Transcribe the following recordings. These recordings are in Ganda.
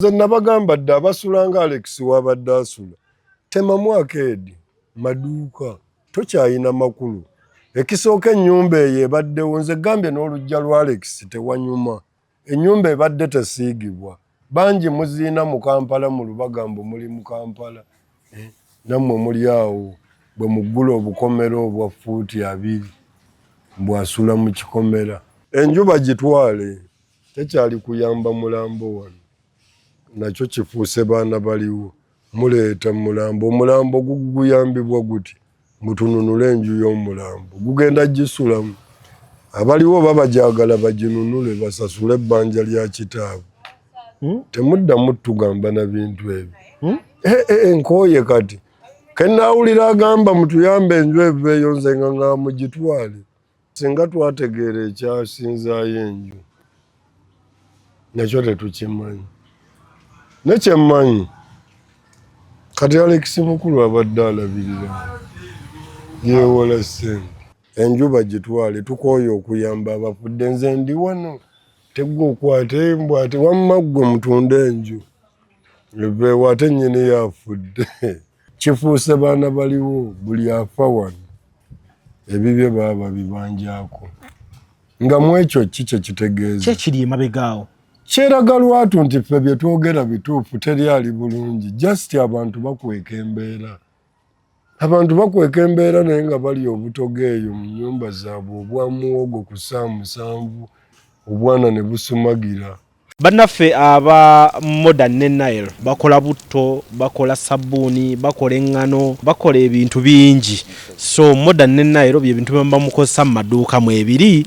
nze nabagamba dda abasula nga alex wabadde asula temamu akeedi maduuka tokyayina makulu ekisooka ennyumba eyo ebaddewo nze gambye n'olujja lwa alex tewanyuma ennyumba ebadde tesiigibwa bangi muziina mu kampala mu lubaga mbu muli mu kampala eh, nammwe muli awo bwe muggula obukomera obwa fuuti abiri mbwasula mu kikomera enjuba gitwale tekyali kuyamba mulambo wano nakyo kifuuse baana baliwo muleeta mulambo omulambo guguyambibwa guti mutununule enju y'omulambo gugenda gisulamu abaliwo oba bajagala baginunule basasule ebbanja lya kitaabwe hmm? temuddamu tugamba na bintu ebyo hmm? eh, eh, eh, nkooye kati kenaawulira agamba mutuyambe enju eveeyo nze nga nga mugitwale Singa twategeera ekyasinzaayo enju nakyo tetukimanyi. Nekyemmanyi kati Alex Mukulu abadde alabirira yewola ssente. Enju bagitwale tukooye okuyamba abafudde. Nze ndi wano tegwa okwata embwa ate wamma ggwe mutunda enju eveewo ate nnyini yaafudde. kifuuse baana baliwo buli afa wano ebibye baaba bibanjako nga mwekyo ki kyekitegeeza kyekiri emabegaawo kyeraga lwatu nti ffe byetwogera bituufu teri ali bulungi just abantu bakweka embeera abantu bakweka embeera naye nga bali obutoga eyo mu nyumba zaabwe obwa muwogo ku saa musanvu obwana ne busumagira Bannaffe aba Modern ne Nile bakola butto, bakola sabbuuni, bakola eŋŋano, bakola ebintu bingi. So Modern ne Nile bye bintu bye muba mukozesa mu maduuka mwebiri.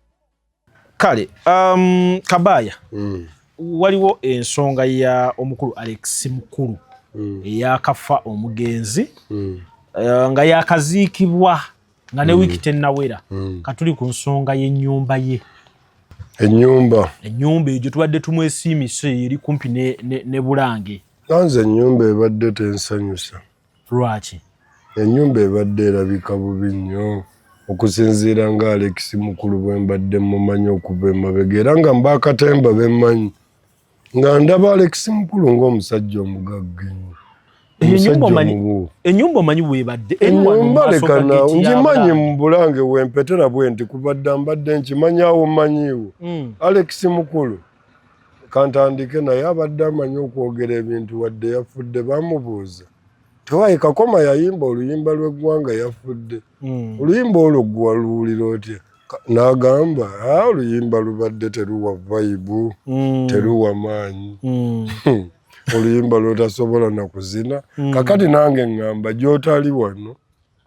kale um, kabaya mm. waliwo ensonga ya omukulu alex mukulu mm. eyakafa omugenzi mm. uh, nga yakaziikibwa nga ne mm. wiiki tennawera mm. katuli ku nsonga y'ennyumba ye ennyumba ennyumba egyo tubadde tumwesiimise eri kumpi ne, ne, ne bulange nanze ennyumba ebadde tensanyusa Lwaki? Ennyumba ebadde erabika bubi nnyo okusinziira nga Alex Mukulu bwe mbadde mmumanyi okuva emabega era nga mba akatemba be mmanyi nga ndaba Alex Mukulu ng'omusajja omugagga ennyo. Enyumba omanyi webadde enyumba leka nawe ngimanyi mu bulange wempetera bwenti kubadda mbadde nkimanyawo manyiwo hmm. Alex Mukulu kantandike naye abadde amanyi okwogera ebintu wadde yafudde bamubuuza tewaye kakoma yayimba oluyimba lweggwanga yafudde hmm. oluyimba olwo gwaluwulira otya nagamba ah, oluyimba lubadde teruwa vaibu hmm. teruwa maanyi hmm. oluyimba lwotasobola nakuzina kakati nange ngamba gyotali wano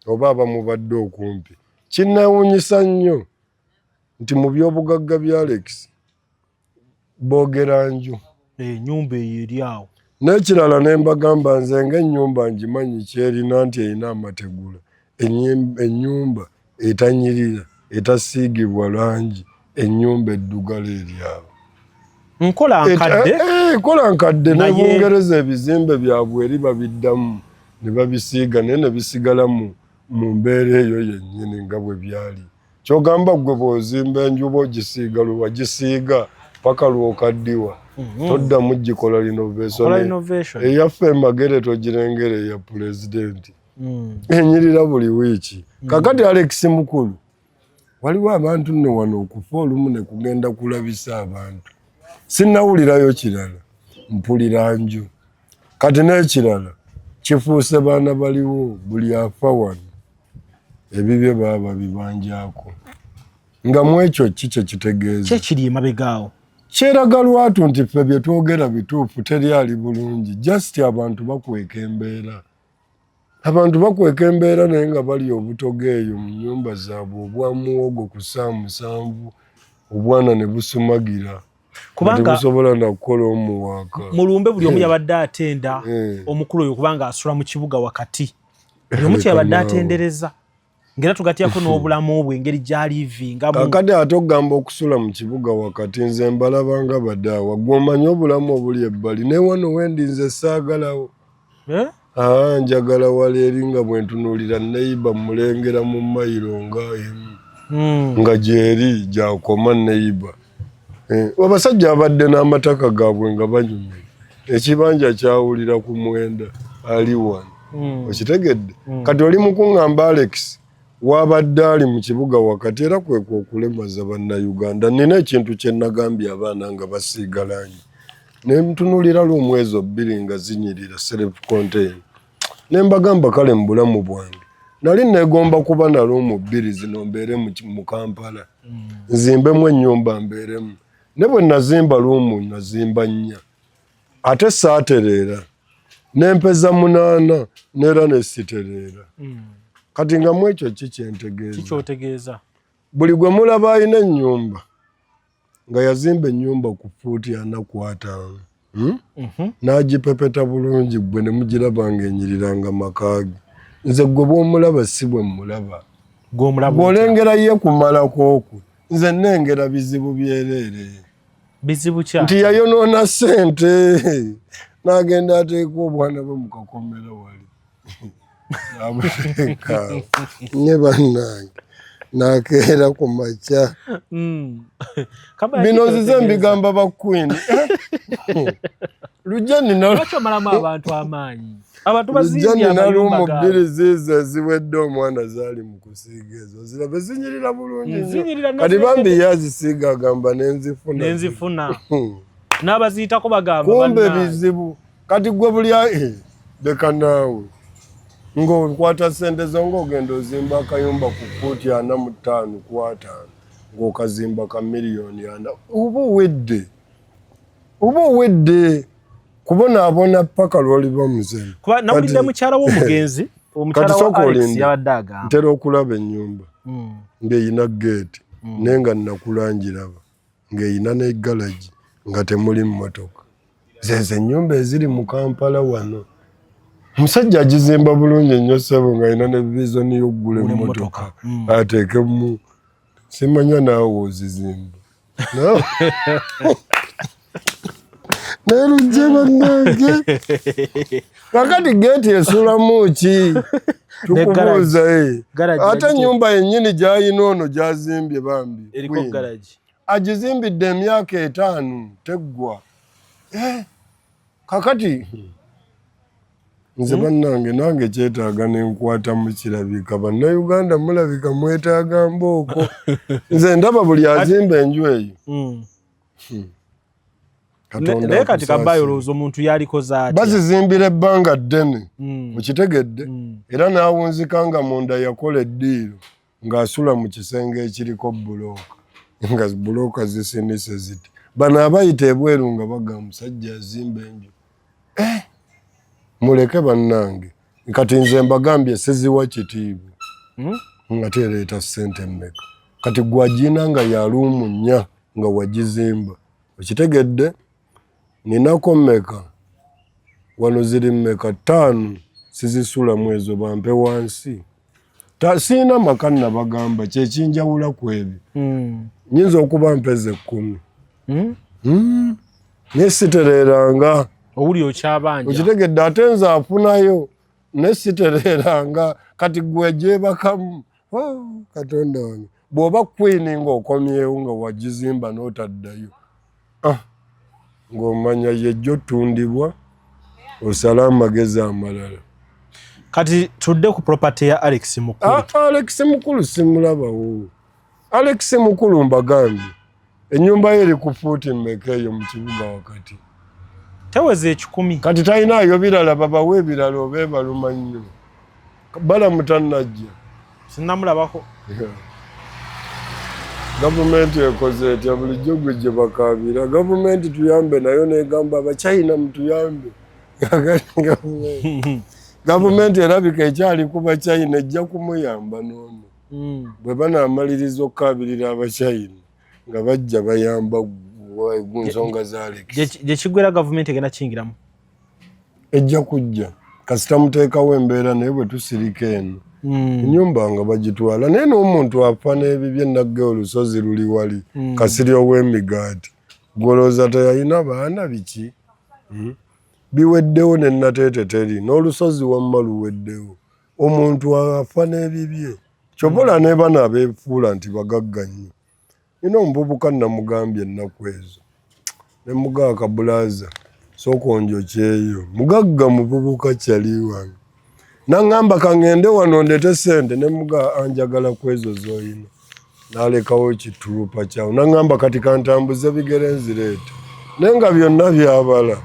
oba abamubadde okumpi kinewunyisa nnyo nti mu byobugagga bya alexi boogera nju enyumba eh, eyo eri awo n'ekirala ne mbagamba nze ng'ennyumba ngimanyi kyerina nti erina amategula ennyumba etanyirira etasiigibwa langi ennyumba eddugala eri awo nkola eh, nkadde eh, nkola nkadde ne bungereza ebizimbe byabwe eri babiddamu ne babisiiga naye ne bisigala mu mbeera eyo yennyini nga bwe byali kyogamba gwe bwozimba enjuba ogisiiga lwewagisiiga paka lwokaddiwa mhm. toddamu gikola linovation eyaffe emagere togirengera eya pulezidenti mm. enyirira buli wiiki mm. kakati alex mukulu waliwo abantu nno wano okufa olumu ne kugenda kulabisa abantu sinnawulirayo kirala mpulira nju kati n'ekirala kifuuse baana baliwo buli afa wano ebibye baaba bibanjako nga mu ekyo ki kye kitegeeza kyekiri emabegaawo kyeraga lwatu nti ffe bye twogera bituufu teri ali bulungi just abantu bakweka embeera Abantu bakweka embeera naye nga bali obutoga eyo mu nyumba zaabwe obwa muwogo ku saa musanvu obwana ne busumagira kubanga busobola nakukola omuwaaka mu lumbe buli omu eh. yabadde atenda eh. omukulu oyo kubanga asula mu kibuga wakati buli omu kyeyabadde atendereza ngera tugatyako n'obulamu bwe engeri gyalivinga kakati ate okugamba okusula mu kibuga wakati nze mbalaba nga badaawa gwe omanyi obulamu obuli ebbali naye wano wendi nze saagalawo eh? aa njagala wala eri nga bwentunuulira neyiba mulengera mu mayiro nga emu hmm. nga gyeri gyakoma neyiba Eh, abasajja abadde n'amataka gaabwe nga banyumye ekibanja kyawulira ku mwenda ali wano hmm. okitegedde hmm. kati oli mukuŋŋamba alex wabadde ali mu kibuga wakati era kwekwa okulemaza bannayuganda nina ekintu kye nagambye abaana nga basiigalanyi ne mtunulira lwomwezi obbiri nga zinyirira self contain ne mbagamba kale mu bulamu bwange nali negomba kuba nali omubbirizi nombeere mu kampala mm. nzimbemu ennyumba mbeeremu ne bwe nazimba luumu nazimba nnya ate saatereera nempeza munaana neera nesitereera mm. kati nga mu ekyo ki kyentegeeza buli gwe mulaba alina ennyumba nga yazimba ennyumba ku fuuti ana ku ataano hmm? mhm. n'agipepeta bulungi ggwe ne mugiraba ng'enyirira nga makaage nze ggwe bw'omulaba si bwe mmulaba bw'olengera ye kumalako okwo nze nnengera bizibu byereere bizibu kya nti yayonoona ssente n'agenda ateeka obwana bwe mu kakomera wali nye bannange nakeera ku makya hmm. bino nzize mbigamba ba queen lujja ninalwomalamu abantu amaanyi lujja ninaluma bbiri ziizo eziwedde omwana zaali mu kusiiga ezo zirabe zinyirira bulungi nyo kati bambi ye azisiiga agamba nenzifuna nenzifuna hmm. n'abaziitako bagamba kumbe bizibu kati gwe bulya eh, leka naawe ng'okwata sente zo ng'ogenda ozimba akayumba ku fuuti ana mu ttaano kwataano ng'okazimba ka miliyoni ana oba owedde oba owedde kubonaabona paka lwoliba muzemu kuba nawulidde mukyala w'omugenzi omukyala wa alex yabadde agamba ntera okulaba ennyumba hmm. ng'eyina geeti hmm. naye nga nnakulangiraba ng'erina ne galagi nga temuli mmotoka. Zeezo ennyumba eziri mu Kampala wano. Omusajja agizimba bulungi nnyo ssebo ng'alina ne viizoni y'okugula emmotoka hmm. ateekemu simanya naawe ozizimba naye lujje bannange kakati geti esulamu ki tukubuuza eh. ate enyumba yenyini gyayina ono gyazimbye bambi agizimbidde emyaka etaano teggwa eh, kakati hmm. nze hmm? bannange nange kyetaaga nenkwata mukirabika bannayuganda mulabika mwetaaga mbooko nze ndaba buli azimba enju eyo hmm. naye kati kabayo olowooza omuntu yalikoze atya bazizimbira ebbanga ddene hmm. okitegedde hmm. era n'awunzika nga munda yakola eddiiro ng'asula mu kisenge ekiriko bulooka nga bulooka zisinise ziti bano abayita ebweru nga baga musajja azimba enju eh! muleke bannange kati nze mbagambye siziwa kitiibwa hmm? nga tereeta ssente mmeka kati gwagina nga yaluumu nnya nga wagizimba okitegedde ninako mmeka wano ziri mmeka ttaano sizisulamu ezo bampe wansi siina maka nabagamba kyekinjawula ku ebyo hmm. nyinza okuba mpeza ekkumi hmm? hmm? naye sitereranga owuli okyabanja okitegedde ate nze afunayo naye sitereranga kati gwe gyebakamu Oh, katonda wange bw'oba kwini ng'okomyewo nga wagizimba n'otaddayo ah, ng'omanya yejjo tundibwa osala amagezi amalala kati tudde ku property ya alex mukulu ah, alex mukulu simulabawo alex mukulu mbagambye Ennyumba ye eri ku fuuti mmeka eyo mu kibuga wakati? Teweza ekikumi. Kati talinaayo birala babawa ebirala oba ebaluma nnyo. Balamu tannajja. Sinnamulabako. Gavumenti ekoze etya bulijjo gwe gye bakaabira? Gavumenti tuyambe nayo n'egamba Abachina mutuyambe. Gavumenti erabika ekyali ku Bachina ejja kumuyamba n'ono. mm. bwe banaamaliriza okukaabirira abachina nga bajja bayamba ku nsonga za lekisi gye kiggwera gavumenti egenda kiyingiramu ejja kujja kasita muteekawo embeera naye bwe tusirika eno hmm. enyumba nga bagitwala naye n'omuntu afa n'ebibye nagge olusozi luli wali hmm. kasiri ow'emigaati gwolowooza teyalina baana biki hmm? biweddewo ne nateete teri n'olusozi wamma luweddewo omuntu afa n'ebibye kyova olaba nebana abefuula nti bagagga nnyo nina omuvubuka namugambye ennaku ezo nemugaa kabulaza sokonjo kyeyo mugagga muvubuka kyali wange nangamba kangende wano ndete sente nemugaa anjagala kwezo zoyina nalekawo ekitulupa kyawo naŋamba kati kantambuze bigere nzireeta naye nga byonna byabala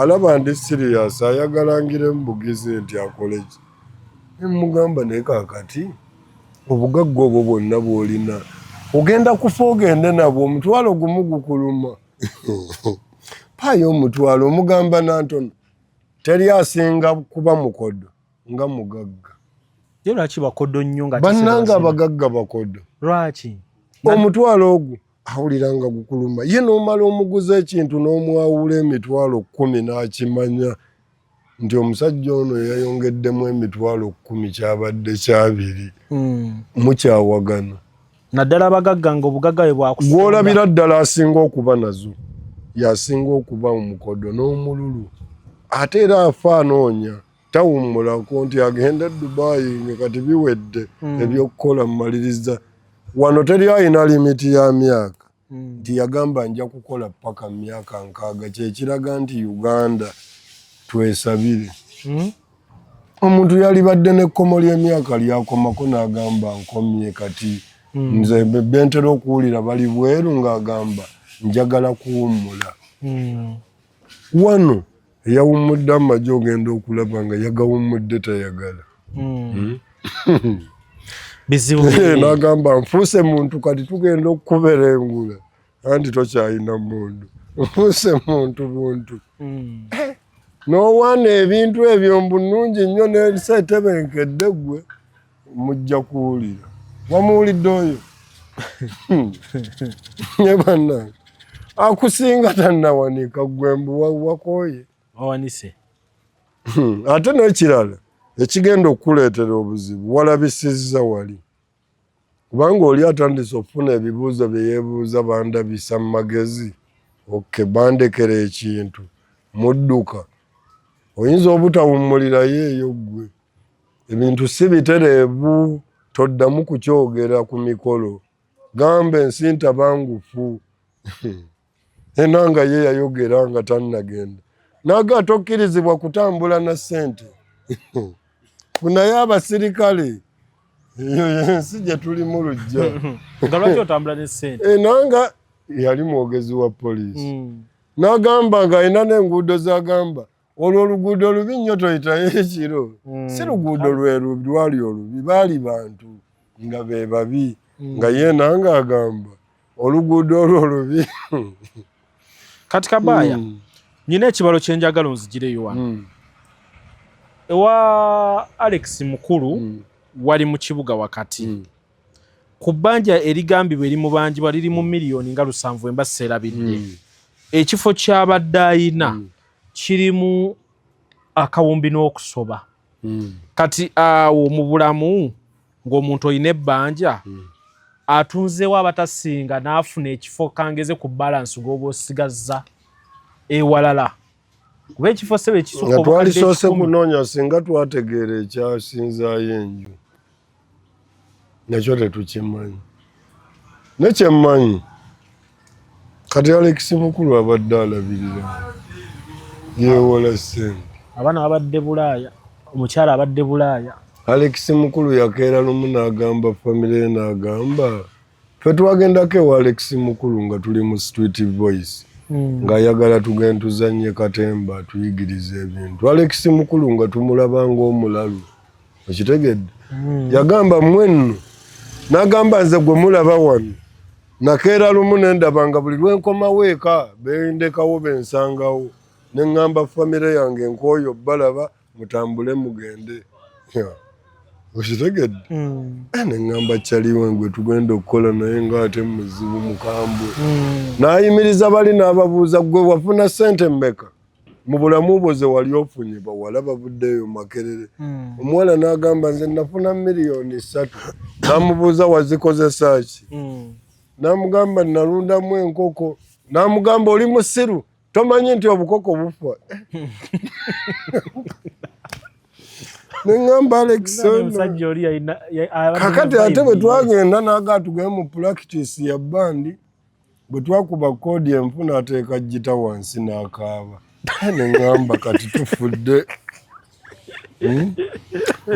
alaba ndi siriyasi ayagala ngire mubugizi nti akoleki nemugamba naye kakati obugagga obwo bwonna bwolina ogenda kufa ogende nabwo omutwalo gumu gukuluma paayo omutwalo omugamba nantono teri asinga kuba mukodo nga mugagga ye lwaki bakodo nnyo nga bannanga abagagga bakodo lwaki omutwalo ogwo awulira nga gukuluma ye nomala omuguza ekintu n'omwawula emitwalo kumi n'akimanya nti omusajja ono yayongeddemu emitwalo kumi kyabadde kyabiri hmm. mukyawagana naddala abagagga nga obugagga bwe bwakusa gwolabira ddala asinga okuba nazo yasinga okuba omukodo n'omululu ate era afa anoonya tawummulako nti agenda e dubayi nga kati biwedde hmm. ebyokukola mumaliriza wano teri alina limiti ya myaka hmm. nti yagamba nja kukola paka mumyaka nkaaga kyekiraga nti uganda twesabire hmm? omuntu yalibadde nekkomo lyemyaka lyakomako nagamba nkomye kati nze bentera okuwulira bali bweru ngaagamba njagala kuwummula wano eyawummudde amagye ogenda okulaba nga yagawummudde tayagala hmm. Hmm? bizibu eh, nagamba nfuuse muntu kati tugenda okukubera engula anti tokyalina mundu nfuuse muntu buntu hmm. eh, nowaana ebintu ebyo mbunungi nnyo nesaetebenkedde gwe mujja kuwulira wamuwulidde oyo ne bannange akusinga tannawanika gwe mbu wakoye wawanise hmm, ate n'ekirala ekigenda okukuleetera obuzibu walabisizza wali kubanga oli atandise okufuna ebibuuzo bye yeebuuza bandabisa mu magezi oke bandekera ekintu mudduka oyinza obutawummulirayo eyo ggwe ebintu si bitereevu toddamu kukyogera ku mikolo gamba ensi ntabangufu ena nga ye yayogera nga tannagenda naga tokkirizibwa kutambula na ssente kunaye abasirikale eyo yensi gye tulimu lujja enanga eh, yali mwogezi wa poliisi mm. nagamba nga alina n'enguudo zagamba olwo oluguudo olubi nnyo toyitayo ekiro hmm. si luguudo lwelwali olubi baali bantu nga be babi hmm. nga yeena nga agamba oluguudo olwo olubi kati kabaaya hmm. nyina ekibalo kyenjagala onzigireyo wano ewa alex mukulu wali mu kibuga wakati ku bbanja erigambibwa erimubanjibwa liri mu miliyoni nga lusanvu emba seerabidde ekifo kyabadde ayina kirimu akawumbi n'okusoba hmm. kati awo mu bulamu ng'omuntu olina ebbanja hmm. atunzeewo abatasinga n'afuna ekifo kangeze ku balansi g'oba osigazza ewalala kuba ekifo sebe kisoka nga twalisoose kunoonya singa twategeera ekyasinzaayo enju nakyo tetukimanyi nekyemmanyi kati alekisi mukulu abadde alabirira yewola sente abaana babadde bulaaya omukyala abadde bulaaya alekisi mukulu yakeera lumu n'agamba famire naagamba fe twagendako ewa alex mukulu nga tuli mu street voice hmm. ng'ayagala tugenda tuzannye katemba atuyigiriza ebintu alex mukulu nga tumulaba ng'omulalu okitegedde hmm. yagamba mwenno n'agamba nze gwe mulaba wano nakeera lumu ne ndaba nga buli lwe nkomawo eka bendekawo bensangawo ne ŋŋamba famire yange nk'oyo balaba mutambule mugende okitegedde mm. eh, neŋŋamba caliwe ngwe tugenda okukola naye ngaate muzibu mukambwe mm. n'ayimiriza bali n'ababuuza gwe wafuna sente mmeka mu bulamu bwo ze wali ofunye bawala bavuddeeyo makerere mm. omuwala n'agamba nze nafuna miliyoni ssatu n'amubuuza wazikozesa ki n'amugamba nalundamu enkoko n'amugamba oli musiru tomanyi nti obukoko bufa neŋamba alexkakati ate bwe twagenda naga tugee mu practice ya bandi bwe twakuba koodi enfu nateeka jita wansi nakaaba neŋamba kati tufudde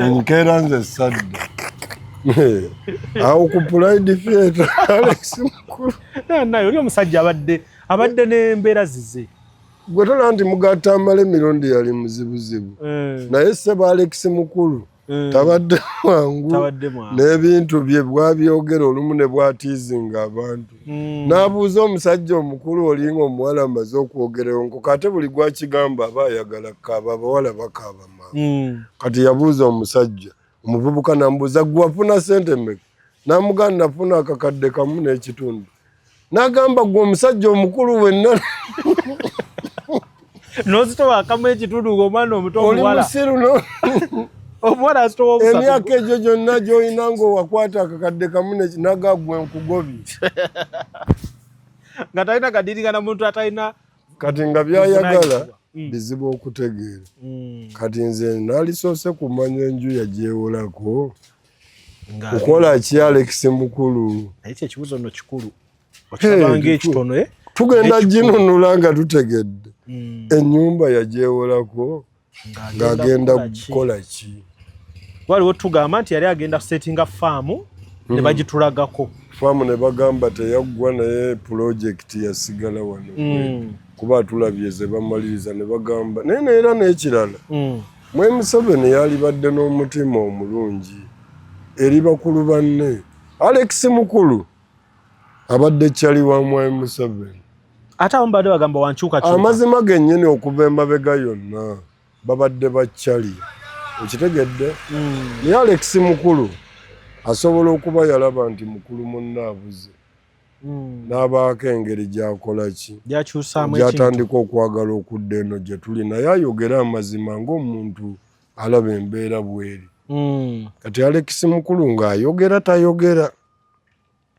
enkeera hmm? nze sadda awo ku pulaidi theatre alex mukulu naye oli omusajja abadde abadde n'embeera zize gwe tola nti mugatta amala emirundi yali muzibuzibu eh. naye sebo alex mukulu eh. tabadde mwangu n'ebintu bye bwabyogera olumu ne bwatiizinga abantu Mm. Nabuuza omusajja omukulu olinga omuwala amaze okwogerewo nkoko ate buli gwakigamba aba ayagala kaaba abawala bakaaba maama mm. kati yabuuza omusajja omuvubuka namubuuza gwewafuna sente meka namuganda nafuna akakadde kamu n'ekitundu nagamba gwe omusajja omukulu wenna nozitowakamu ekitundu ngaomwana omuto omuwala omuwala azitowa omusatu emyaka egyo gyonna gyolina ngaowakwata akakadde kamu nagagwe nkugobi nga talina kadiringana muntu atalina kati nga byayagala Mm. bizibu okutegeera mm. kati nze nalisoose kumanya enju yagyewolako kukola ki alex mukulu naye kyekibuzo no kikulu okirabanga ekitono eh? tugenda ginunula nga tutegedde hmm. enyumba yagyewolako ng'agenda kukola ki waliwo tugamba nti yali agenda kusetinga faamu ne hmm. bagitulagako faamu ne bagamba teyaggwa naye pulojekiti yasigala wano hmm. kuba atulabye ze bamaliriza ne bagamba naye neera n'ekirala mwe museveni yalibadde n'omutima omulungi eri bakulu banne alex mukulu abadde cali wa mwami museveni ate abamu badde bagamba wankyukakyuka amazima gennyini okuva emabega yonna babadde ba cali okitegedde hmm. naye alex mukulu asobola okuba yalaba nti mukulu munna abuze hmm. n'abaako engeri gyakola ki gyatandika okwagala okudda eno gye tuli naye ayogere amazima ng'omuntu alaba embeera bweri hmm. kati alex mukulu ng'ayogera tayogera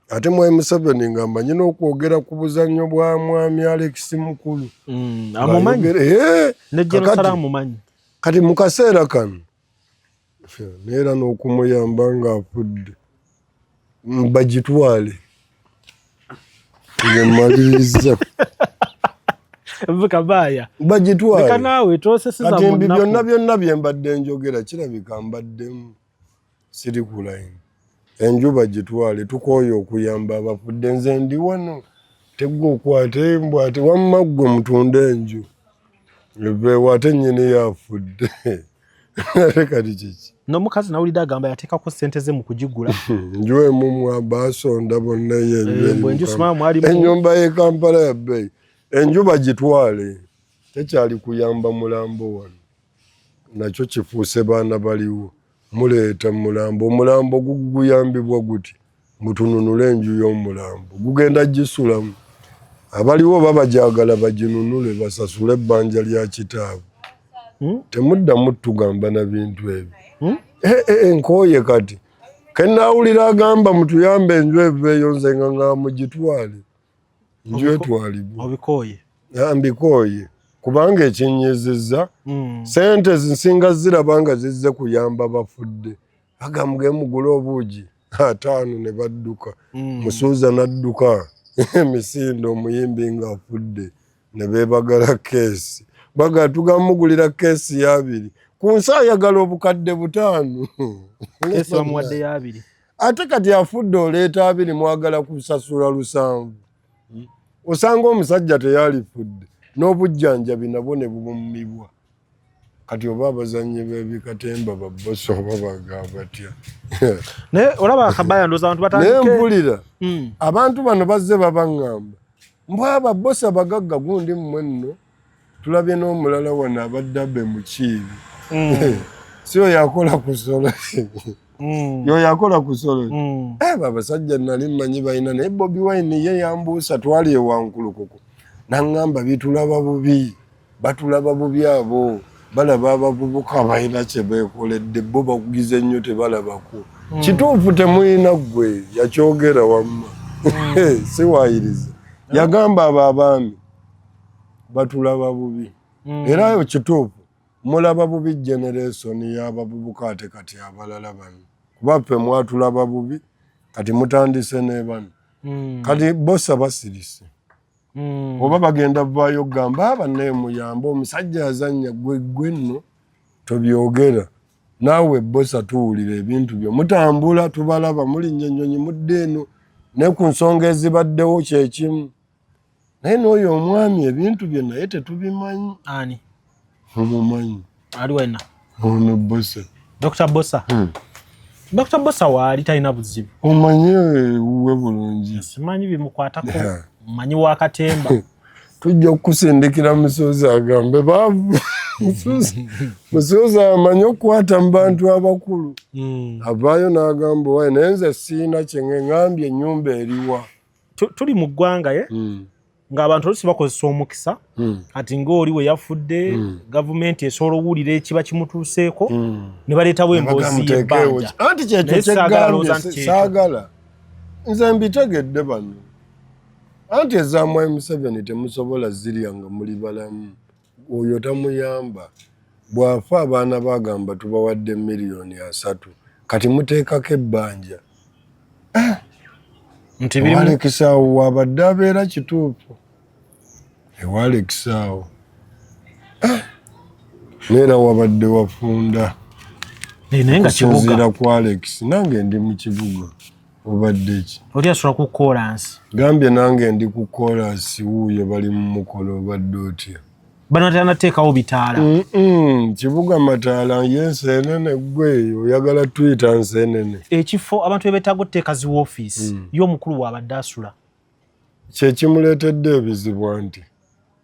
ate mwami museveni nga mmanyi n'okwogera ku buzannyo bwa mwami alex mukulu mm, eh, kati mu kaseera kano neera n'okumuyamba ng'afudde bagitwale ngemaliriza kabaaya bagitwale kati mbi byonna byonna bye mbadde njogera kirabika mbaddemu sirikulayini enjuba gitwale tukooye okuyamba abafudde nze ndi wano tegwe okwate mbu ate wamma ggwe mutunde enju eveewo ate nyini yafudde ate kati kiki nomukazi nawulidde agamba yateekako sente ze mu kugigula njuwemumwa basonda bonna yenyumba eh, yekampala yabbeyi enjuba gitwale tekyali kuyamba mulambo wano nakyo kifuuse baana baliwo muleeta mulambo omulambo guguyambibwa guti mutununule enju y'omulambo gugenda gisulamu abaliwo oba bajagala baginunule basasule ebbanja lya kitaabwe hmm? temuddamu tugamba na bintu ebyo hmm? eh, eh, eh, nkooye kati kenaawulira agamba mutuyambe enju eveeyo nze nga nga mugitwale njwetwalibwa obikooye ah, mbikooye kubanga ekinyizizza hmm. sente zinsinga ziraba nga zizze kuyamba bafudde bagamga emugula obuugi ataano ne badduka hmm. musuuza n'adduka emisinde omuyimbi ng'afudde ne beebagala keesi baga tugamugulira keesi y'abiri ku nsi ayagala obukadde butaano ate kati afudde oleeta abiri mwagala kusasula lusanvu hmm? osanga omusajja teyalifudde n'obujjanjabi nabwo ne bubumibwa kati oba abazannyi bebikatemba babosi oba bagabatya naye olaba akabaya ndoza abantu batandike naye mpulira hmm. abantu bano bazze babaŋŋamba mbwa ababosi abagagga gundi mmwe nno tulabye n'omulala wano abadde abe mukiibi mm. si oyo akola ku solo mm. yoyo akola ku solo mm. eh, babasajja nali mmanyi balina naye bobi wine ye yambuusa twali ewankulukuku naŋŋamba bitulaba bubi batulaba bubi abo balaba abavubuka balina kye beekoledde bo bakugize nnyo tebalabako kituufu temulina ggwe yakyogera wamma siwayiriza yagamba abo abaami batulaba bubi mm. era yo kituufu mulaba bubi generesoni y'abavubuka ate kati abalala bano kuba ffe mwatulaba bubi kati mutandise nebano mm. kati bosa basirise mm. oba bagenda vaayo okugamba aba nemuyamba omusajja yazanya gwegwe nno tobyogera naawe bosa tuwulira ebintu byo mutambula tubalaba mulinnya ennyonyi mudde eno ne ku nsonga ezibaddewo kyekimu naye n'oyo omwami ebintu bye naye tetubimanyi ani omumanyi ali wena ono bosa dr bosa hmm. dr bosa waali talina buzibu omanyi ewuwe bulungi simanyi bimukwatako omanyi wakatemba tujja kukusindikira musozi agambe baavu musozi amanyi okukwata mu bantu abakulu hmm. avaayo n'agamba owaye naye nze siina kyengeŋambye enyumba eriwa tuli mu ggwanga ye hmm. ng'abantu olusi bakozesa omukisa hmm. kati ng'oli we yafudde hmm. gavumenti esobola owulira ekiba kimutuuseeko ne baleetawo emboozi yebbanja anti kyekyo kyeggambyesaagala nze mbitegedde bano anti ezamwai museveni temusobola zirya nga muli balamu oyo tamuyamba bwafa abaana bagamba tubawadde miliyoni asatu kati muteekako ebbanja ah! nti ewalekisaawo wabadde abeera kituufu ewalekisaawo ah! neera wabadde wafunda kusinziira ku alex nange ndi mu kibuga obadde ki oli asobola ku kolansi gambye nange ndi ku kolansi wuuyo bali mu mukono obadde otya bano tanateekawo bitaala kibuga mataala yensi enene gwe oyagala tuyita nsi enene ekifo abantu bebetaaga oteeka zi wofiisi mm. yo omukulu waabadde asula Kyekimuleetedde ebizibu anti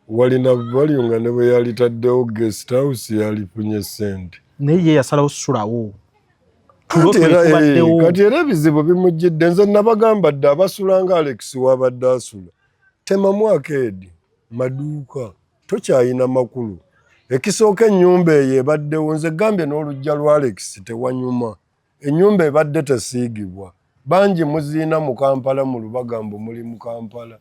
wali na value nga ne bwe yalitaddewo guest house yalifunye ssente. Naye ye yasalawo sulawo. Eh, kati era ebizibu bimujjidde nze nabagamba dde abasula nga alex wabadde asula tema mwaka edi maduuka tokyayina makulu ekisooka ennyumba eyo ebaddewo nze gambye n'olujja lwa alex tewanyuma Enyumba ebadde tesiigibwa. Bangi muziina mu Kampala mu Lubaga mbu muli mu Kampala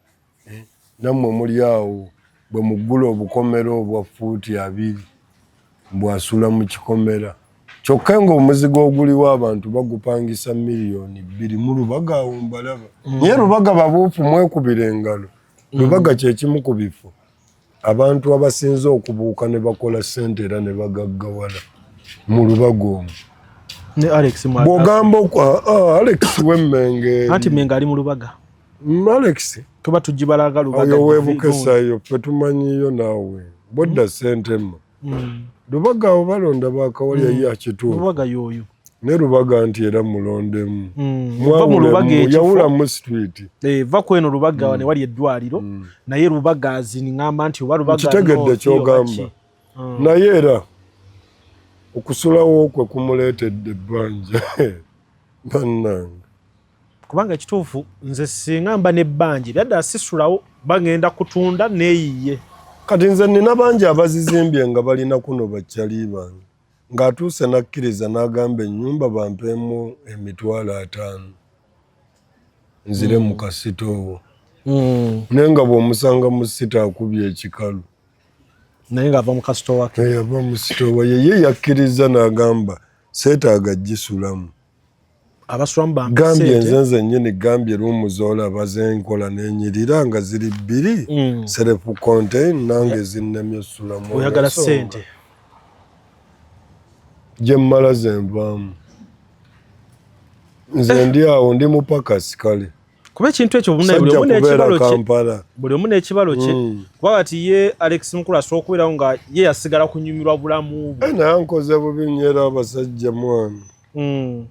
eh, nammwe muli awo bwe muggula obukomera obwa ffuuti abiri mbu asula mu kikomera kyokka ng'omuzigo oguliwo abantu bagupangisa miliyoni bbiri mu lubaga awo mbalaba mm. naye lubaga babuufu mwekubira engalo mm. lubaga kyekimu ku bifo abantu abasinze okubuuka ne bakola ssente era ne bagaggawala mu lubaga omu bwogamba ah, ah, alex wemmenge anti mmenga ali mu lubaga mm, alex tuba tugibalaga lubaga oyo webukesayo fe tumanyiyo naawe bodda ssente mma hmm. lubaga awo balonda bakawalya hmm. ye akituuka ne lubaga nti era mulondemu hmm. yawulamu situiti eh, va kweno lubaga wane wali eddwaliro naye lubaga aziniŋamba nti oba lubakitegedde kyogamba naye era okusulawo kwe kumuleetedde ebbanja bannange kubanga ekituufu nze singa mba nebbanja ebyaddala sisulawo bagenda kutunda neyiye kati nze nina bangi abazizimbye nga balina kuno bakyali bange ng'atuuse n'akkiriza n'agamba ennyumba bampeemu emitwalo ataano nzire mu kasita owo hmm. naye nga bw'omusanga mu sita akubye ekikalu naye ng'ava mu kasita owake yava mu sita owa yeye yakkiriza n'agamba seetaaga gisulamu abaswamu bambigambye nze nze nyini gambye lumu zolaba zenkola nenyirira nga ziri bbiri mm. self contain nange zinnemye sulamu oyagala sente gyemmala zenvaamu nze ndi awo ndi mupakasi kale kuba ekintu ekyo buli omu n'ekibalo kye hmm. kuba kati ye alex mukulu asobola okubeerawo nga ye yasigala kunyumirwa bulamu bwe eh, naye nkoze bubi nyera abasajja mwana hmm.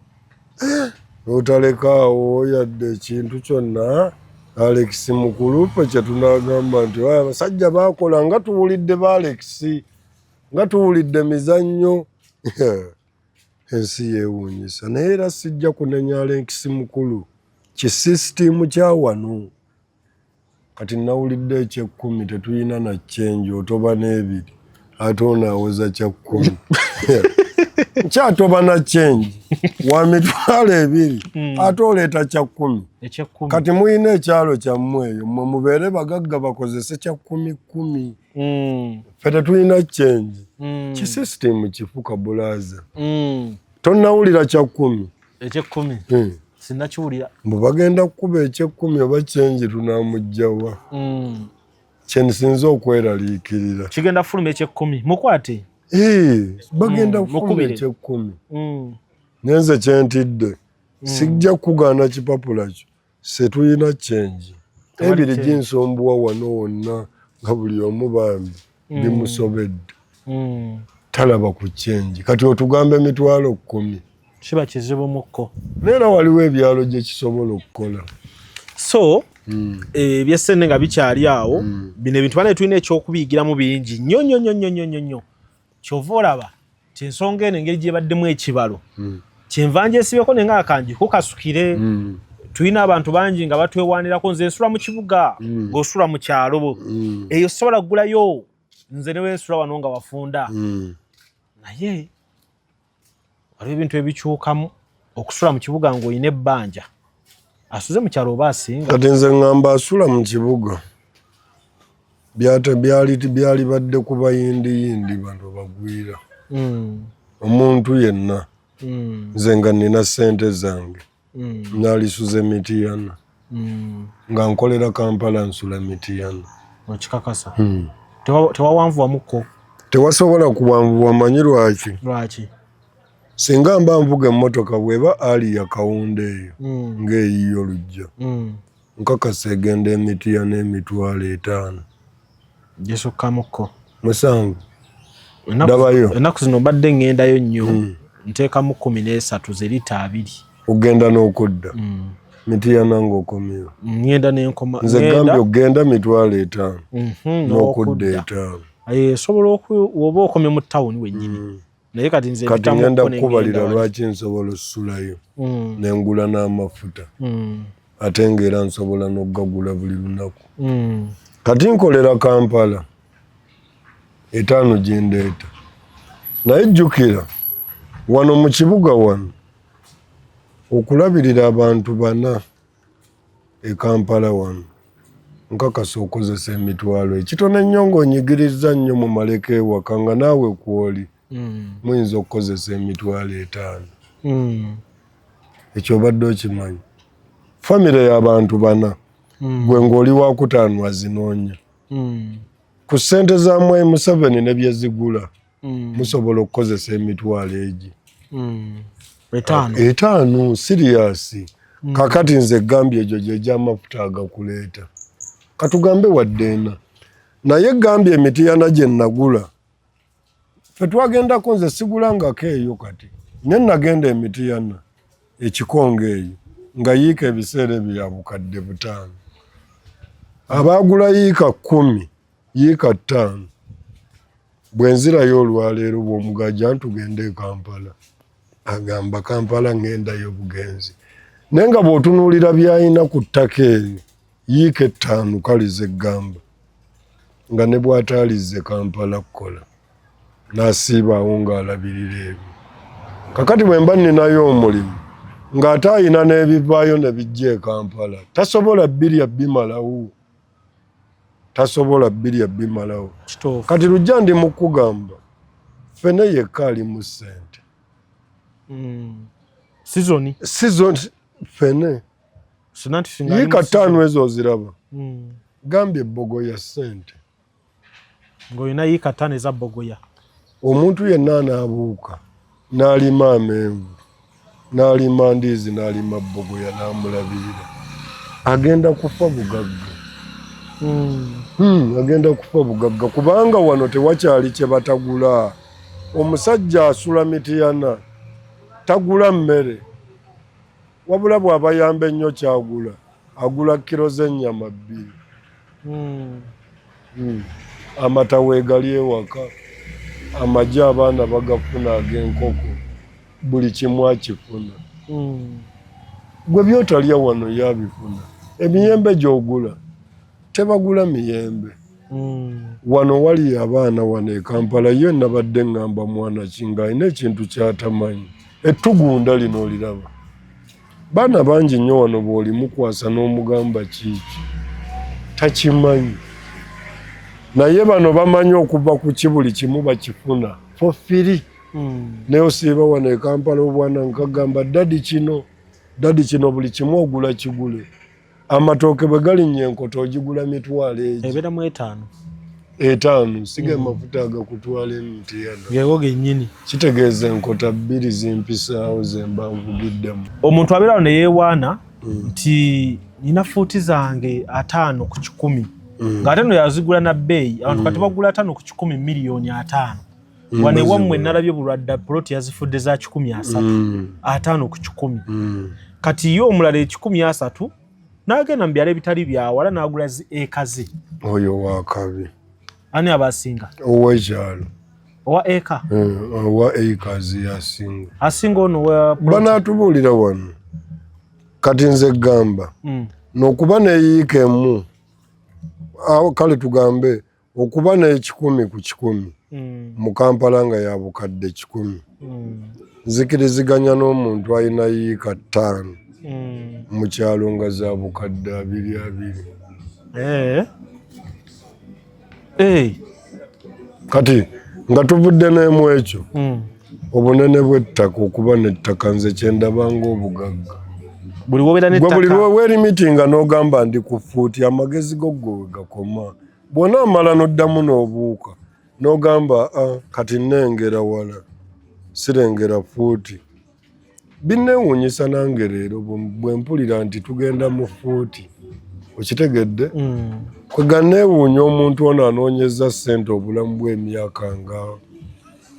eh, notalekaawo yadde ekintu kyonna alex mukulu fe kyetunagamba nti abasajja bakola nga tuwulidde ba alex nga tuwulidde mizannyo ensi yewunyisa naye era sijja kunenya alenkisi mukulu kisisitiimu kyawano kati nawulidde ekyekkumi tetuyina nakyenji otoba n'ebiri ate ono awoza kyakkumi nkyatoba na kyenji wa mitwalo ebiri hmm. ate oleeta kyakkumi kati muyina ekyalo kyammwe eyo mwe mubeere bagagga bakozese kyakkumi kkumi mm. fe tetulina change mm. kisystem kifuka bulaza mm. tonawulira kyakumi ekyekumi mm. sinakiwulira mbu bagenda kukuba ekyekumi oba change tunamugjawa mm. kyenisinza okweraliikirira kigenda fuluma ekyekumi mukwate hey, bagenda mm. kufuluma ekyekumi mm. nenze kyentidde mm. sijja kukugaana kipapula kyo setulina kyenji ebiri ginsombuwa wano wonna nga buli omu bambi mm. bimusobedde mm. talaba ku kyenji kati otugamba emitwalo kkumi kiba kizibu mukko neera waliwo ebyalo gye kisobola okukola so mm. eh, ebyesente nga bikyali awo bino ebintu bana tulina ekyokubiyigiramu bingi nyo nyo nyo nyo nyo nyo kyova olaba nti ensonga eno engeri gyebaddemu ekibalo hmm. kyenva njesibeko nenga akanji kukasukire hmm. tulina abantu bangi nga batwewanirako nze nsula mu kibuga hmm. ngaosula mu kyalo eyo sobola kugulayo nze newensula wano nga wafunda naye waliwo ebintu ebikyukamu okusula mu kibuga ng'olina ebbanja asuze mu kyalo oba asinga kati nze ŋŋamba asula mu kibuga byalibadde ku bayindiyindi bantu bagwira hmm. omuntu yenna hmm. nze nga nina sente zange mm. nalisuze mitiyana mm. nga nkolera kampala nsula mitiyana okikakasa hmm. tewawanvuwamuko tewasobola kuwanvuwa manyi lwaki lwaki singa mba nvuga emmotoka bweba ali yakawunda eyo hmm. ngaeyiyo olujja hmm. Nkakasa egenda e Mityana emitwalo etaano. Gisukkamukko. Musanvu. Ndabayo. Ennaku zino mbadde ngendayo nnyo. Hmm. Nteekamu kkumi n'esatu ze lita abiri. Ogenda n'okudda. Hmm. Mityana ng'okomyewo. Ngenda n'enkoma. Nze gambye ogenda mitwalo etaano. Mhm, n'okudda etaano. Esobola oku oba okomye mu tawuni wennyini. Hmm. naye kati nze kati ngenda kukubalira lwaki nsobola osulayo mm. nengula n'amafuta mm. ate ngaera nsobola n'okugagula buli lunaku mm. kati nkolera kampala etaano gyendeeta naye jjukira wano mu kibuga wano okulabirira abantu bana e Kampala wano nkakasa okozesa emitwalo ekitono ennyo ng'onyigirizza nnyo mu maleka ewaka nga naawe kwoli hmm. muyinza okukozesa emitwalo etaano hmm. ekyo obadde okimanyi famire y'abantu bana hmm. gwe ng'oli wakutaano azinoonya ku ssente za mwayi museveni ne byezigula mm. musobola okukozesa emitwalo egi mm. etaano etaano siriyasi mm. kakati nze gambye egyo gyegyamafuta agakuleeta katugambe wadde ena naye gambye emitiyana gye nagula fe twagendako nze sigulangako eyo kati nye nagenda emitiyana ekikonga eyo nga yiika ebiseera ebyo yabukadde butaano abaagula yiika kkumi yiika ttaano bwe nzirayo olwaleero bw'omugajja ntugenda e kampala agamba kampala ng'endayo obugenzi naye nga bw'otunuulira by'alina ku ttaka eryo yiika ettaano kalize eggamba nga ne bw'ataalize kampala kukola n'asiibaawo ng'alabirira ebyo kakati bwe mba nninayo omulimu ng'ate alina n'ebivaayo ne bijja e kampala tasobola birya bimalawo tasobola birya bimalawo kati lujja ndi mukugamba fene yekka ali mu sente hmm. sizoni sizoni fene yika taano ezo oziraba hmm. gambye ebogo ya sente ng'olina yiika ttaano eza bbogoya omuntu yenna anaabuuka n'alima amenvu n'alima ndiizi n'alima bbogoya n'amulabirira agenda kufa bugagga hmm. Hmm, agenda kufa bugagga kubanga wano tewakyali kye batagula omusajja asula mitiyana tagula mmere Wabula bwabayamba ennyo kyagula agula kiro z'ennyama bbiri hmm. Hmm. amata weegali ewaka amagi abaana bagafuna ag'enkoko buli kimu akifuna hmm. gwe byotalya wano yabifuna emiyembe gyogula tebagula miyembe mm. wano wali abaana wano ekampala yo nabadde ngamba mwana kinga alina ekintu kyatamanyi ettugunda lino oliraba baana bangi nnyo wano bwolimukwasa n'omugamba kiiki takimanyi naye bano bamanyi okuva ku ki buli kimu bakifuna fofiri mm. naye osiiba wano ekampala obwana nkagamba dadi kino dadi kino buli kimu ogula kigule amatooke bwe galinnya enkoto ogigula mitwalo egi ebeera mu etaano etaano siga mm. amafuta agakutwala emitiano gego gennyini kitegeeza enkota bbiri zimpisaawo zemba nvugiddemu omuntu abeera awo ne yeewaana mm. nti nina fuuti zange ataano ku kikumi mm. ng'ate no yazigula na bbeeyi abantu kati bagula ataano ku kikumi miliyoni ataano wano ewammwe nalabye bulwadda poloti yazifudde za kikumi asatu mm. ataano ku kikumi mm. kati ye omulala ekikumi asatu n'agenda mu byalo ebitali byawala n'agula zi eka ze oyo wakabi ani abasinga owekyalo owa eka eh, owa eka ze yasinga asinga ono banaatubuulira wano kati nze gamba mm. nokuba neyiika emu awo kale tugambe okuba n'ekikumi ku kikumi mm. mu kampala nga ya bukadde kikumi mm. nzikiriziganya n'omuntu alina yiika ttaano mm. mu kyalo nga za bukadde abiri abiri eh. Eh. kati nga tuvudde n'emu ekyo obunene bw'ettaka okuba n'ettaka nze kyendaba ng'obugagga buli wobeera nettaka buli wewelimitinga n'ogamba ndi ku fuuti amagezi go gwe wegakoma bw'onaamala n'oddamu n'obuuka n'ogamba ah, kati nnengera wala sirengera fuuti binneewuunyisa nange leero bwe mpulira nti tugenda mu fuuti okitegedde mm. kweganeewuunya omuntu ono anoonyeza ssente obulamu bw'emyaka nga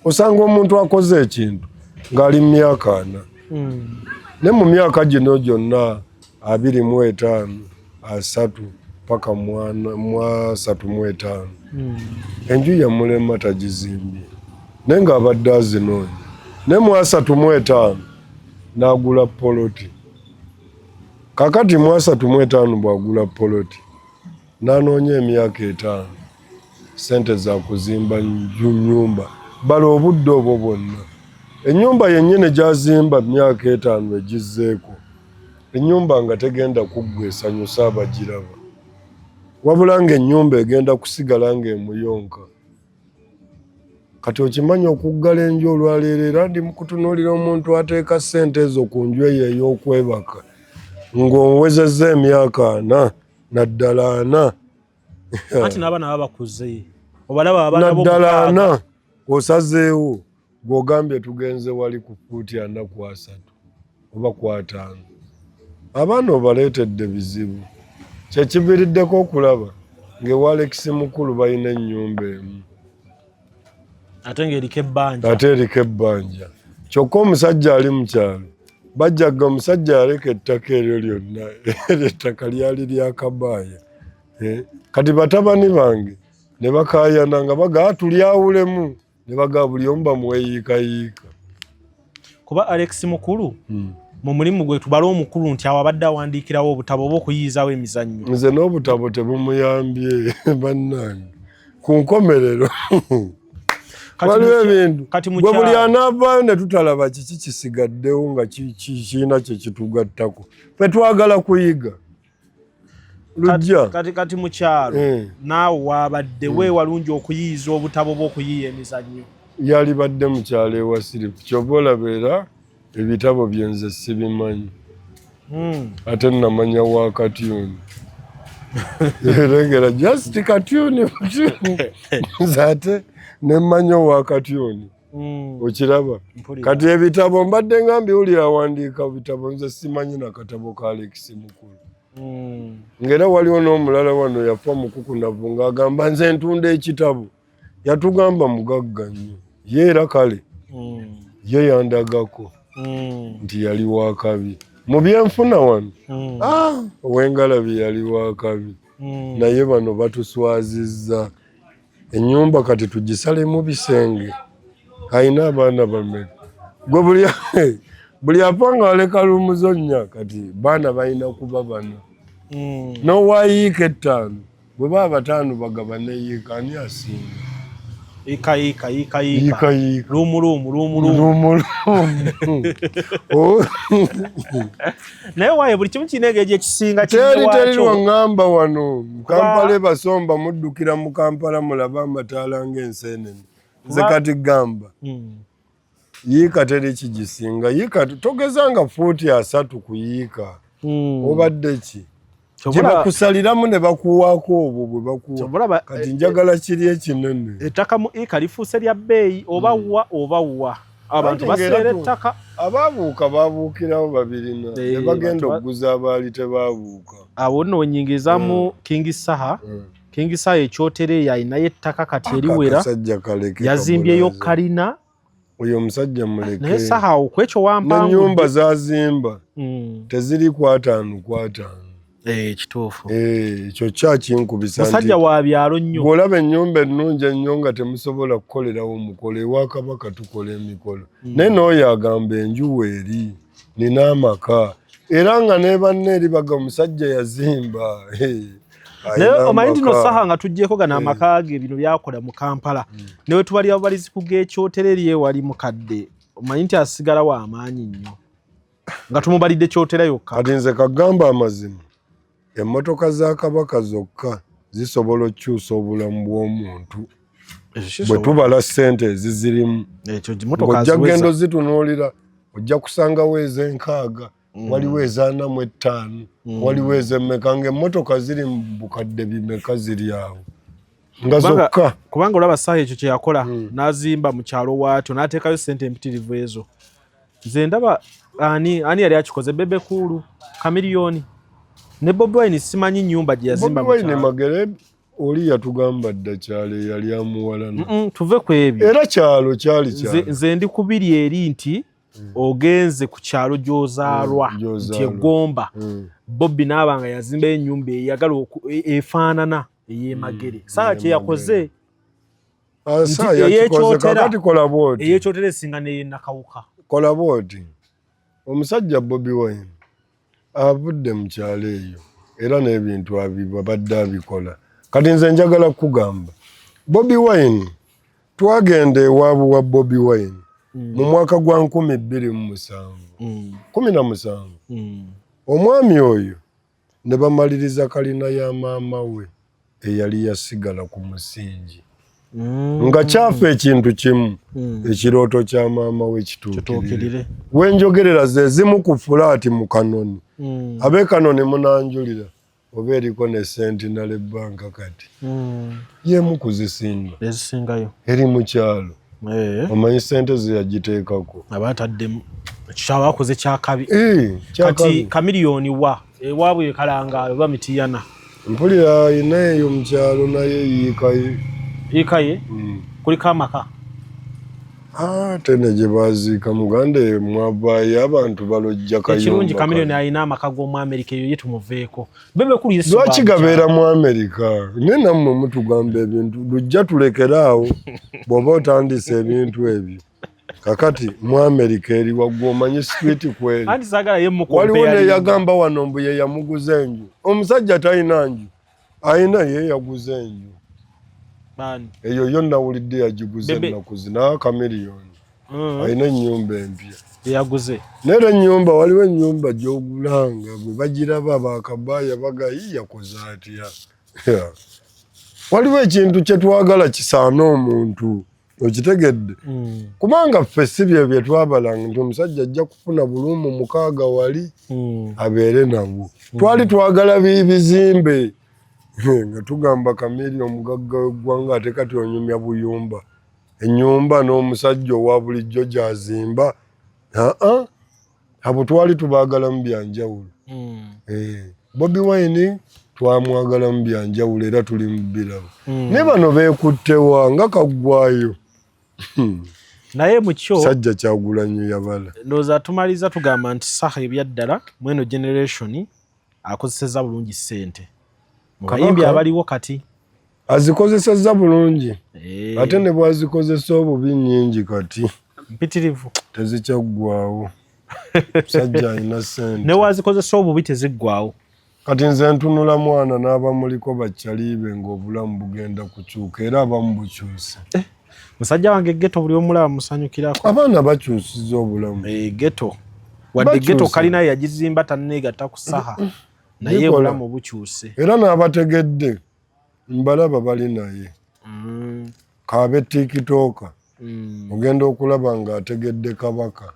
osanga omuntu akoze ekintu ng'ali mu myaka ana mm. ne mu myaka gino gyonna abiri mu etaano asatu paka mwasatu mu etaano hmm. enju yamulema tagizimbye naye ng'abadde azinoonya naye mwasatu mu etaano n'agula poloti kakati mwasatu mu etaano bw'agula poloti n'anoonya emyaka etaano sente za kuzimba nyumba bala obudde obwo bwonna enyumba yennyini gyazimba myaka etaano egizzeeko enyumba nga tegenda kuggwa esanyusa abagiraba wabula nga enyumba egenda kusigala nga emuyonka kati okimanyi okuggala enju olwaleero era ndi mukutunuulira omuntu ateeka sente ezo ku nju eyo ey'okwebaka ng'owezezza emyaka ana naddala ana anti n'abaana baba bakuze obalaba abanaddalaana osazeewo gwogambye tugenze wali ku fuuti ana ku asatu oba ku ataano abaana obaleetedde bizibu kyekiviriddeko okulaba ng'ewalekisi mukulu balina ennyumba emu ate ng'eriko ebbanja ate eriko ebbanja kyokka omusajja ali mu kyalo bajjaga omusajja yaleka ettaka eryo lyonna eryo ettaka lyali lyakabaaya eh, kati batabani bange ne bakayana nga bagaa ah, tulyawulemu ne bagaa buli omu bamuweyiikayiika kuba Alex Mukulu hmm. mu mulimu gwe tubala omukulu nti awo abadde awandiikirawo obutabo oba okuyiyizawo emizannyo nze n'obutabo tebumuyambye bannange ku nkomerero waliwo ebintu gwe buli anaavaayo ne tutalaba kiki kisigaddewo nga kirina kye kitugattako fe twagala kuyiga lujja kati kati mukyalo eh. naawe wabadde hmm. weewalungi okuyiyiza obutabo bw'okuyiiya emizannyo yalibadde mukyalo ewasirifu kyova olabeera ebitabo byenze sibimanyi hmm. ate namanya wa katyuni erengera just katyuni ate nemmanya owa katyuni Mm. okiraba kati ebitabo mbadde nga mbiwulira awandiika bitabo nze simanyi nakatabo ka alekisi mukulu mm. ngaera waliwo n'omulala wano yafa mukukunavu ng'agamba nze ntunda ekitabo yatugamba mugagga nnyo ye era kale mm. ye yandagako nti yali wakabi mu byenfuna wano ah, owengalabi yali wakabi naye bano batuswazizza enyumba kati tugisalemu bisenge alina abaana bameka gwe buli buli apanga aleka lumuzonya kati baana balina kuba bana hmm. nowayiika ettaano bwe baba bataano bagabane yiika ani asinga yiika yiika yiika yiika luumuluumu luumuluumu oh. naye waye buli kimu kirina engeri gyekisinga teri teri wangamba wano mukampala ebasomba muddukira mu kampala mulaba amataala ngaenseenene nze kati gamba hmm. yiika teri kigisinga yiika togezanga fuuti asatu kuyiika hmm. obadde ki gyebakusaliramu ne bakuwaako obwo bwe bakuwa kati eh, njagala eh, kiri ekinene ettaka mu ika lifuuse lya bbeeyi oba hmm. wa oba wa abantu baseera ettaka abaabuuka baabuukirawo babirina ne eh, bagenda okuguza abaali tebaabuuka awo nno wenyingizamu hmm. kingi saha hmm. kingi saha ekyotereeyo alinayo ettaka kati eriwera yazimbyeyo kalina oyo omusajja muleke naye saha okwekyo wampangu nyumba zazimba mm. teziri kwatanu kwatanu eh kitufu eh kyo cha kinkubisa musajja wa byalo nnyo golaba nyumba ennungi ennyo nga temusobola kukolerawo mukole wa kabaka tukola emikolo mm. naye n'oyo agamba enju weeri nina amaka era nga nebanne eri baga omusajja yazimba hey. naye omanyi nti nosaha nga tujjeko gana eh. amaka ge bino byakola mu kampala hmm. newe tubali ababalizi kuga ekyotera eri ewali mukadde omanyi nti asigala wa amaanyi nnyo nga tumubalidde kyotera yokka kati nze kagamba amazima emmotoka za kabaka zokka zisobola okukyusa obulamu bw'omuntu bwe tubala sente ezizirimu ojja genda ozitunuulira ojja kusangawo ez'enkaaga Mm. waliwo ezaana mu ettaano mm. waliwo ezemmeka ngaemmotoka ziri mu bukadde bimeka ziri awo nga zokka kubanga olaba saaha ekyo kyeyakola mm. n'azimba mu kyalo waatyo n'ateekayo ssente empitirivu ezo nze ndaba ani ani yali akikoze bebe kuulu kamiliyoni ne bobi wine simanyi nyumba gye yazimba magere oli yatugamba dda kyalo eyali amuwalana tuve ku ebyo era kyalo kyali kyalo nze ndi kubiri eri nti mm. ogenze ku kyalo gyozaalwa mm, nti egomba mm. bobbi naaba nga yazimba enyumba eyagala e, efaanana eyemagere mm, saa kyeyakoze eyekyotera esinga neyenakawuka kola bwoti omusajja bobi wine avudde mu kyalo eyo era n'ebintu abibabadde abikola kati nze njagala kukugamba bobi wine twagenda ewaabu wa bobi wine mm. mu mwaka gwa nkumi bbiri mu musanvu mm. kumi na musanvu mm. omwami oyo ne bamaliriza kalina ya maama we eyali yasigala ku musingi mm. nga kyafa ekintu kimu mm. ekirooto kya maama we kituukirire wenjogerera zezimu ku fulaati mu kanoni mm. abe kanoni munanjulira oba eriko ne sentinale banka kati mm. yemu kuzisinga ezisingayo eri mukyalo eh. omanyi sente zeyagiteekako aba ataddemu ekishawo akoze kyakabi eh, kati kamiliyoni wa ewaabwe ekalangaalo oba mitiyana mpulira alina eyo mukyalo naye yiikaye yiikaye hmm. kuliko amaka ah, tene gye baziika muganda mwavaayo abantu balojja kayekirungi kamiliyoni alina amaka g'omu amerika eyo ye tumuveeko lwaki gabeera mu amerika naye nammwe mutugamba ebintu lujja tulekeraawo bw'oba otandisa ebintu ebyo kakati mu amerika eri waggwa omanyi street kweri waliwo neyagamba wano mbu ye yamuguza enju omusajja talina nju alina ye yaguza enju eyo yo nawulidde yagiguza ennaku zina kamiriyoni mm. alina ennyumba empya eyaguze nera ennyumba waliwo ennyumba gyogulanga bwe bagiraba bakabaya bagayi yakoze atya waliwo ekintu kyetwagala kisaana omuntu okitegedde mm. kubanga ffe si bye bye twabalanga nti omusajja ajja kufuna bulumu mukaaga wali mm. abeere nabwo mm. twali twagala bibizimbe nga tugamba kamiri omugagga w'eggwanga ate kati onyumya buyumba ennyumba n'omusajja owa bulijjo gyazimba aa abo twali tubaagalamu bya njawulo mm. eh, bobi wine twamwagalamu bya njawulo era tuli mu birabo mm. ne bano beekuttewa nga kaggwayo hmm. naye mukyo sajja kyagulanyo yabala ndowooza tumaliza tugamba nti saha ebyaddala mweno generationi akozesezza bulungi ssente mu bayimbi abaliwo kati azikozesezza bulungi eh. ate ne bwazikozesa obubi nyingi kati mpitirivu tezikyaggwawo musajja alina sente ne wazikozesa obubi teziggwawo kati nze ntunula mwana n'abamuliko bakyaliibe ng'obulamu bugenda kukyuka era abamu bukyuse eh. musajja wange geto buli omulaba musanyukirako abaana bakyusiza obulamu e, geto wadde geto kalina yagizimba taneegata ku saha naye obulamu bukyuse era n'abategedde mbalaba bali naye mm. kaabe tikitooka mm. ogenda okulaba ng'ategedde kabaka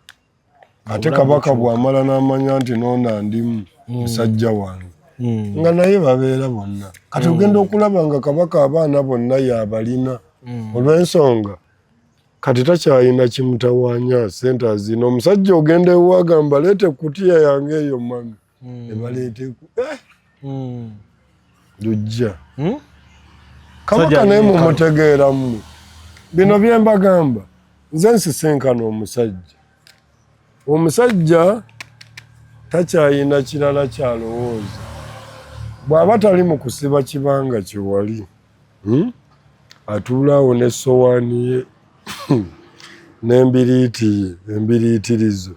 ate kabaka bwamala n'amanya nti noona ndimu mm. musajja wange mm. nga naye babeera bonna kati mm. ogenda okulaba nga kabaka abaana bonna yabalina olw'ensonga kati takyalina kimutawanya sente azina omusajja ogenda ewagamba leeta ekutiya yange eyo mami mm. ne baleeta eku eh! mm. lujja hmm? kabaka naye mumutegeera mwe bino bye mbagamba nze nsisinkana omusajja omusajja takyayina kirala kyalowooza bw'aba tali mu kusiba kibanga kyewali hmm? atuulaawo ne sowaani ye n'embiriiti ye embiriitirizo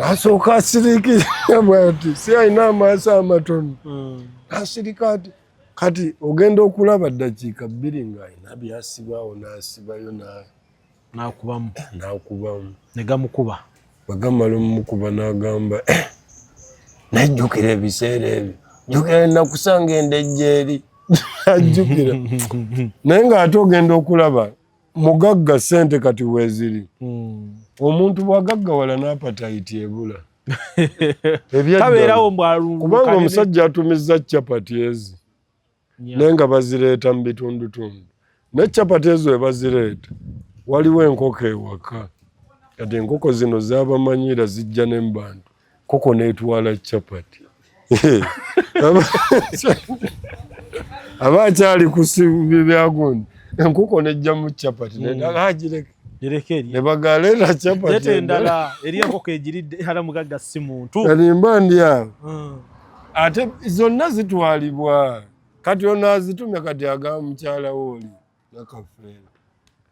asooka asirikira bwati si alina amaaso amatono hmm. asirika ati kati ogenda okulaba ddakiika bbiri ng'alina byasibaawo n'asibayo nakubamu nakubamu negamukuba bagamala omukuba n'agamba eh, najjukira ebiseera ebyo jjukira nakusanga endejjeeri ajjukira naye ng'ate ogenda okulaba mugagga sente kati weziri hmm. omuntu bwagaggawala napatayiti ebula ebyakubanga omusajja atumizza capati ezi naye nga bazireeta mu bitundutundu naye capati ezo webazireeta waliwo enkoko ewaka kati enkoko zino zabamanyira zijja ne mubantu Koko netwala chapati. Aba chali kusibi byagundi. Nkuko nejja mu chapati. Mm. Nedala hajireke. Jireke eri. Nebagale na chapati. Yete ndala. Eri yako kejiride hala mugaga si muntu. Kani mba ndia. Mm. Ate zonna zitwalibwa. Kati ono azitumya kati aga mukyala woli.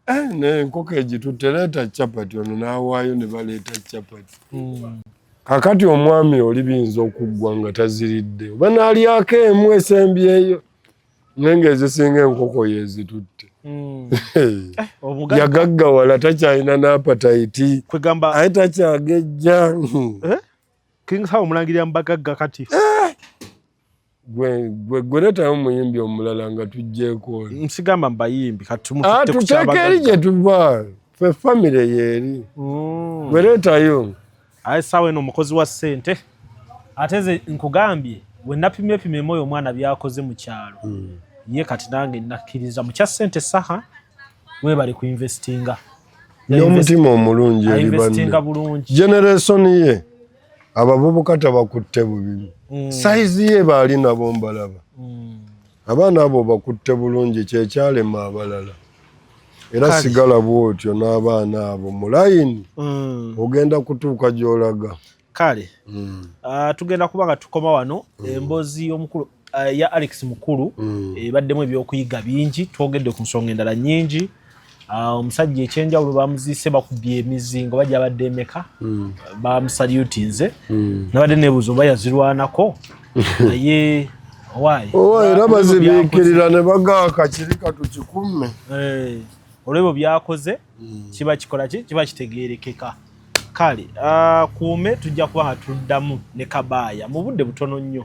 Eh, ne nkoko egitutte leeta chapati ono n'awaayo ne baleeta chapati hmm. kakati omwami oli biyinza okuggwa nga taziridde oba n'alyako emu esembyeyo naye ng'ezisinga enkoko yezitutte hmm. eh, yagaggawala takyalina n'apatayiti aye takyagejja eh? kingsawo omulangirira mubagagga kati gwegweletayo muyimbi omulala nga tujjeeko nsigamba mubayimbi katuteeka ah, eri gyetuva fe famire yeeri mm. gweletayo aye saawa eno omukozi wa ssente ate ze nkugambye wenapimye pimemu oyo omwana byakoze mu kyalo mm. ye kati nange nakkiriza mukya ssente saha webali ku investinga n'omutima omulungi eri banne generation ye abavubuka tabakutte bubibi mm. saizi ye baali nabo mbalaba mm. abaana abo bakutte bulungi kyekyalema abalala era sigala bwotyo n'abaana abo mulayini mm. ogenda kutuuka gyolaga kale mm. uh, tugenda kuba nga tukoma wano mm. embozi y'omukulu uh, ya Alex Mukulu mm. ebaddemu ebyokuyiga bingi twogedde ku nsonga endala nyingi ah, omusajja uh, ekyenjawulo bamuziise bakubye emizingo bajja abadde emeka mm. bamusalutinze mm. nabadde nebuuzo oba yazirwanako naye owaye era bazibikirira ne bagaaka kiri katukikumme eh, olwebyo byakoze mm. kiba kikola ki kiba kitegerekeka kale ah, kuume tujja kuba hatuddamu ne kabaaya mu budde butono nnyo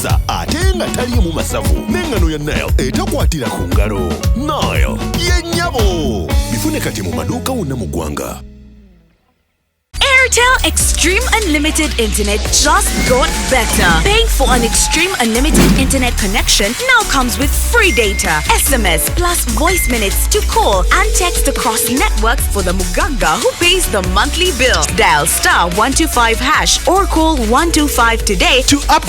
sa ate nga taliimu masavu n'eŋŋano ya nile etakwatira ku ngalo nile yennyabo bifune kati mu maduuka wonna mu ggwanga Airtel Extreme Unlimited Internet just got better. Paying for an Extreme Unlimited Internet connection now comes with free data, SMS, plus voice minutes to call and text across networks for the Muganga who pays the monthly bill. Dial star 125 hash or call 125 today to upgrade.